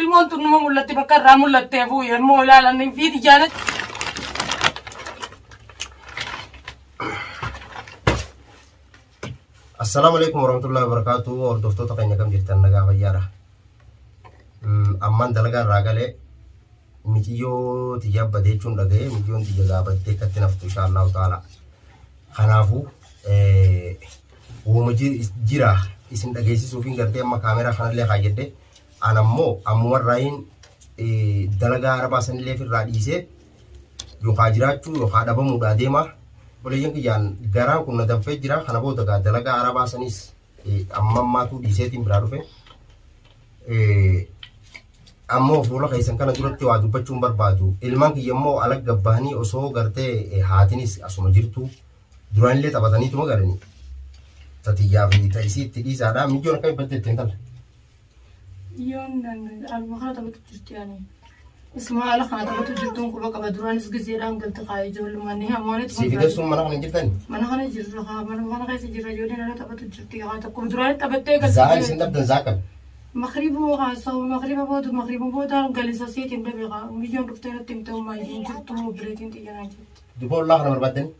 Ilmoon tun numa mul'atti bakka irraa mul'attee fuu yommuu ilaalan hin fiiti jaanet. Assalaamu alaikum warahmatullahi wabarakatuh hordoftoota keenya kam jirtan nagaa fayyaadha. Ammaan dalagaa irraa galee miciyyoo tiyyaa bade jechuun dhagaye miciyyoon tiyya gaa baddee akkatti naftu insha Allahu ta'ala kanaafu wooma jira isin dhageessisuufiin gartee amma kaameraa kanallee kaayyadhe an ammoo ammuma irraayin dalagaa arabaa sanillee irraa dhiisee yookaa jiraachuu yookaa dhabamuudha adeema obboleeyyan kiyyaan garaan kun na danfee jira kana booda gaa dalagaa arabaa sanis Amma ammaatu dhiiseetiin biraa dhufe. Ammoo fuula keessan kana duratti waa dubbachuun barbaadu. Ilmaan kiyya immoo alagga bahanii osoo gartee haatinis asuma jirtu. Duraanillee taphataniituma galanii. Tatiyyaa fi ta'isii itti dhiisaadha. Mijoon akka ibbatte ittiin tala. Yoon albuudaa taphatu jirti ani. Isuma haala kana taphatu jirtuun quba qaba duraanis gizeedhaan galti kaa ijoollummaan ni hamoonitti. Siif hidhessuun mana kana jirtani? Mana kana jirra kaa mana kana keessa jirra ijoolleen ala taphatu jirti kaa tokko duraanis taphattee galti. Za'aan isin dhabdan zaa kam? Makribu kaa sa'u makriba booda makriba booda galisa seetiin dhabe kaa biyyoon dhuftee natti himte ummaa hin jirtu obboleetiin xiyyanaa jirti. Duba ollaa kana barbaaddanii?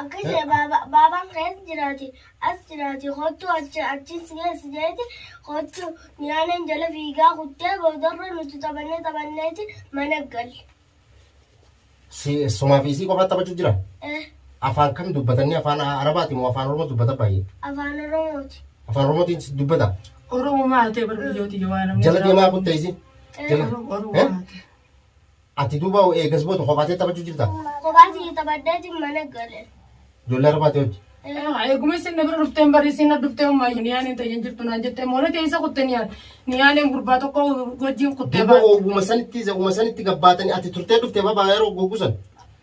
Akkas jedhe baaba- baabaan kees jiraati as jiraati kottu achi achiin si geessi jeeti kottu nyaaneen jala fiigaa kuttee boodarra nuti taphannee taphanneeti mana galle. Si sumaa fi isii qofaa taphachuu jira. Eh, Afaan kam dubbatanni afaan arabaati moo afaan oromoo dubbata baay'ee. Afaan Oromooti. Afaan oromootiin si dubbata. Oromoo maatee bar biyyooti yoo waan Jala deemaa kuttee isii. Eh, Jala. Oromoo Eh? maatee. Ati duuba eegas booda kophaa tee taphachuu jirta? Kophaa kiyya taphadheetiin mana gale. Ijoollee arbaa tee wajji. Eeguma isin na bira dhufteen bari isin na dhuftee ummaa niyaaleen tayyan jirtu naan jettee moona tee isa kutte niyaan niyaaleen gurbaa tokko wajjin kuttee Duuba baate. ooguma sanitti isa uma sanitti gabbaatanii ati turtee dhufte babaa yeroo goggusan.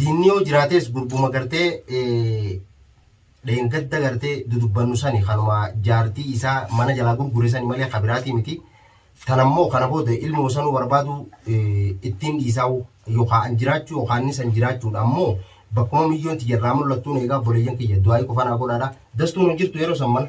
Diinni yoo jiraates gurbuma gartee dheengadda gartee dudubbannu sani kanuma jaartii isaa mana jalaa gurgure sani malee kabiraatii miti. Tan ammoo kana booda ilmoo sanuu barbaadu ittiin dhiisaa'u yookaan an jiraachuu yookaan inni san jiraachuudha ammoo bakkuma miyyoon tiyya irraa mul'attuun eegaa obboleeyyan kiyya du'aayii qofa naa godhaadha. Dastuun hin jirtu yeroo san mana.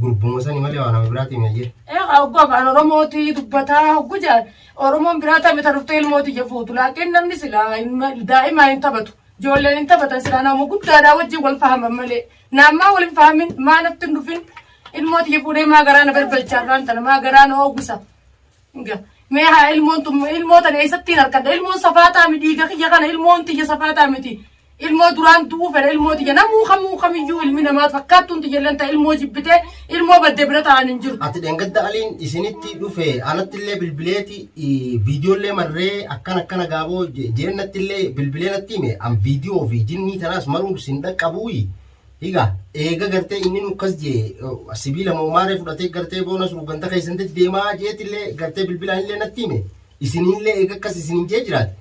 Gurbuma sani malee waa nama biraatii hin hayyee. Oggu afaan Oromootii dubbataa oggu jedhan Oromoon biraa taphata mita dhuftee ilmooti ija fuutu laakiin namni silaa daa'imaa hin taphatu ijoolleen hin taphatan silaa nama guddaadhaa wajjin wal fahaman malee naammaa wal hin fahamin maa natti hin dhufin ilmooti ija fuudhee maa garaa na barbalchaa irraan tana maa garaa na oogisa. Ga- Mee haa ilmoon tun ilmoo tana eessattiin harkadha ilmoon safaataa miti dhiiga kiyya kana ilmoon tiyya safaataa miti ilmoo duraan du'uu fedha ilmoo tiyya namuu kamuu kamiyyuu ilmi namaa fakkaattuun tiyya illee ta'e ilmoo jibbitee ilmoo badde bira ta'an hin jiru. Ati dhengadda aliin isinitti dhufe anatti illee bilbileeti viidiyoo illee marree akkan akkana gaaboo jeennatti illee bilbilee natti hime an viidiyoo fi jinnii tanaas maruun sin dhaqqabuuyi Higa eega gartee inni nu akkas jee sibiila moomaaree fudhatee gartee boonas ruuganta keessan dach deemaa jeetillee gartee bilbilaan illee natti hime isinillee eega akkas isinin jee jiraate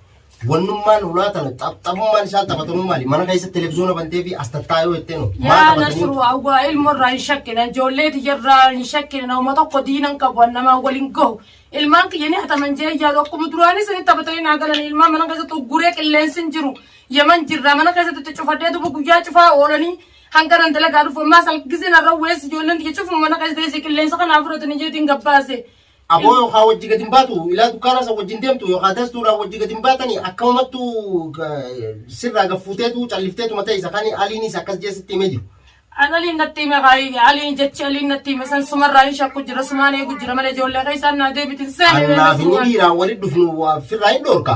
wannummaan ulaa tana taphatamummaan isaan taphatanuu maali mana keessa televiziyoona bantee fi as tattaayoo jettee nu maa Yaa taphatanii nasru awwaa ilmo irraa hin shakkina ijoollee tiyya irraa hin shakkina nama tokko diina hin qabu namaan wal hin gahu ilmaan kiyya ni hataman jee yaadu akkuma duraanii sanitti taphatanii naa galan ilmaan mana keessatti ugguree qilleensi hin jiru Yaman jirra mana keessatti itti cufadhee duba guyyaa cufaa oolanii hanga nan dalagaa dhufu ammaa sal gisee narra weessi ijoolleen tiyya cufuma mana keessa teessee qilleensa kanaa fudhatanii jeetiin gabbaase. Aboo yookaan wajji gadi hin baatu ilaa dukkaana isa wajji hin deemtu yookaan dastuudhaan wajji gadi hin baatani akkanumattu sirraa gaffuuteetu callifteetu mataa isa kan aliinis akkas jeesitti himee jiru. An aliin natti hime kaayi aliin jechi aliin natti hime san sumarraa hin shakku jira sumaan eegu jira malee ijoollee keessaan naa deebitin seene. Annaaf inni dhiiraan walitti dhufnu firraa hin dhoorka.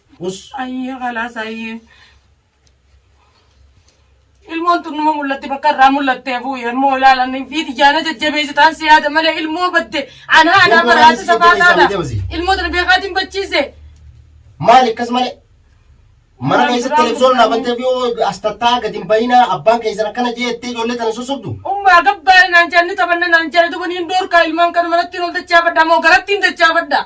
Us ayyee kalaas ayyee. Ilmoon tun numa mul'atti bakka irraa mul'attee bu'e ammoo ilaalan fi tiyyaana jajjabeessitaan si yaada malee ilmoo badde anaa anaa Ilmoo baraate anis safaa jajjabeessaa taata. jajjabasi. Ilmoo tana beekaatiin bachiise. Maali akkas malee? Mana Waan keessatti biraa televizoon gurguranii. dhaabbattee fi yoo as tattaa gadi hin bayinaa abbaan keessan akkana jeettee ijoollee tana susubdu. Ummaa gabbaa naan jaalli taphanna naan jaalli dubaniin doorkaa ilmaan kana manatti hin ol dachaafadha moo garatti hin dachaafadha.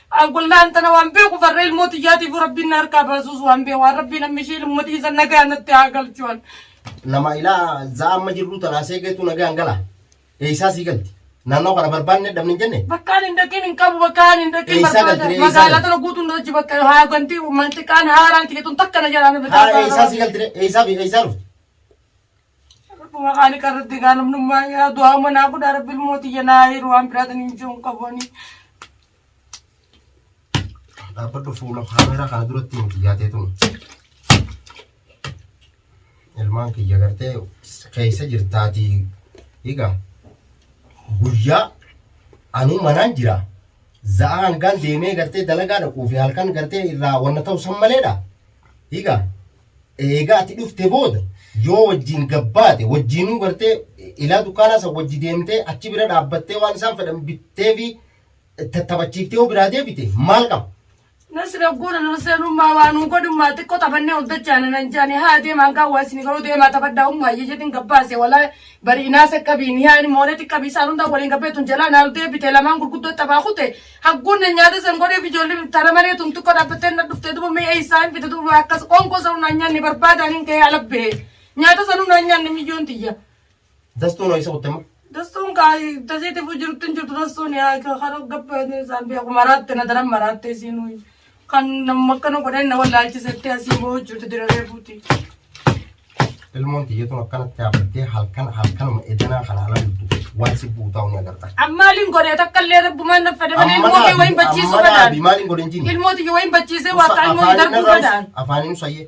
An qulla'an tana waan beeku farra ilmoo tiyyaatiif rabbiin na harkaa baasuus waan beeku waan rabbiin amma ishee ilmoo dhiisan nagaa natti haa galchu an. Nama ilaa za'a amma jirru tanaa seegeetu nagaan gala. Eeysaa sii galti. Naannoo kana barbaanne dhabne hin jenne. Bakka ani hin dhaqin hin qabu bakka ani hin dhaqin Eeysaa barbaada. galtee, eeysaa Magaalaa galtee. tana guutuun na hojii bakka haa ganti manxiqaan haaraan tiyya tun takka na jalaa na bitaa Haa eeysaa sii galti eeysaa fi eeysaa dhufti. Rabbuma qaali qarratti gaalamnummaa yaa du'aa umanaa godhaa rabbi ilmooti jenaa yeroo waan biraatiin hin jiru hin qabuani. Dhaabbadhu fuula kaameeraa kana duratti hin xiyyaatee tun. Ilmaan kiyya gartee keessa jirtaatii egaa guyyaa anuu manaan jira. Za'a hangaan deemee gartee dalagaa dhaquu fi halkan gartee irraa wanna ta'u san maleedha. Egaa Eega ati dhufte booda yoo wajjiin gabbaate wajjiinuu gartee ilaa dukkaanaa san wajji deemtee achi bira dhaabbattee waan isaan fedhan bittee fi tattabachiiftee yoo biraa deebite maal qaba? Nasri ogguun ol seenummaa waa nuu godhummaa xiqqoo taphannee ol dachaana nan jaani haa deemaan gaa waa isin garuu deemaa taphadhaa ummaa iyya jedhin gabbaase walaa bari inaase qabiin hiyaani moolee xiqqabii isaan hundaa waliin gabbeetun jalaa naal deebite lamaan gurguddoo taphaa kute Hagguun na nyaata san godheef ijoollee tana malee tun xiqqoo dhaabbattee na dhuftee duba mee eessaa hin fide duba akkas qonkoo san humnaan nyaanne barbaadaan hin ka'ee ala bahe. Nyaata san humnaan nyaanne miyyoon tiyya. Dastuun ho'isa kuttema. Dastuun kaa tasiitiif jirtu hin jirtu dastuun yaa kana gabbaatee isaan biyya kumaraatti na daran maraattee isiin Kan namni akkana godhan na wallaalchisetti asii boo'u jirtu diraree buuti. Ilmoon tiyyatuun akkanatti haafattee halkan halkanuma edanaa kana ala dubbu waan si buutaa ni agarta. Ammaaliin godhee takka illee rabbumaan na fada malee ilmoo kee wayin bachiisuu fadaan. Maaliin godhin jini? Ilmoo tiyya wayin bachiisee waaqaa ilmoo hin darbuu fadaan. Afaaniin sayyee.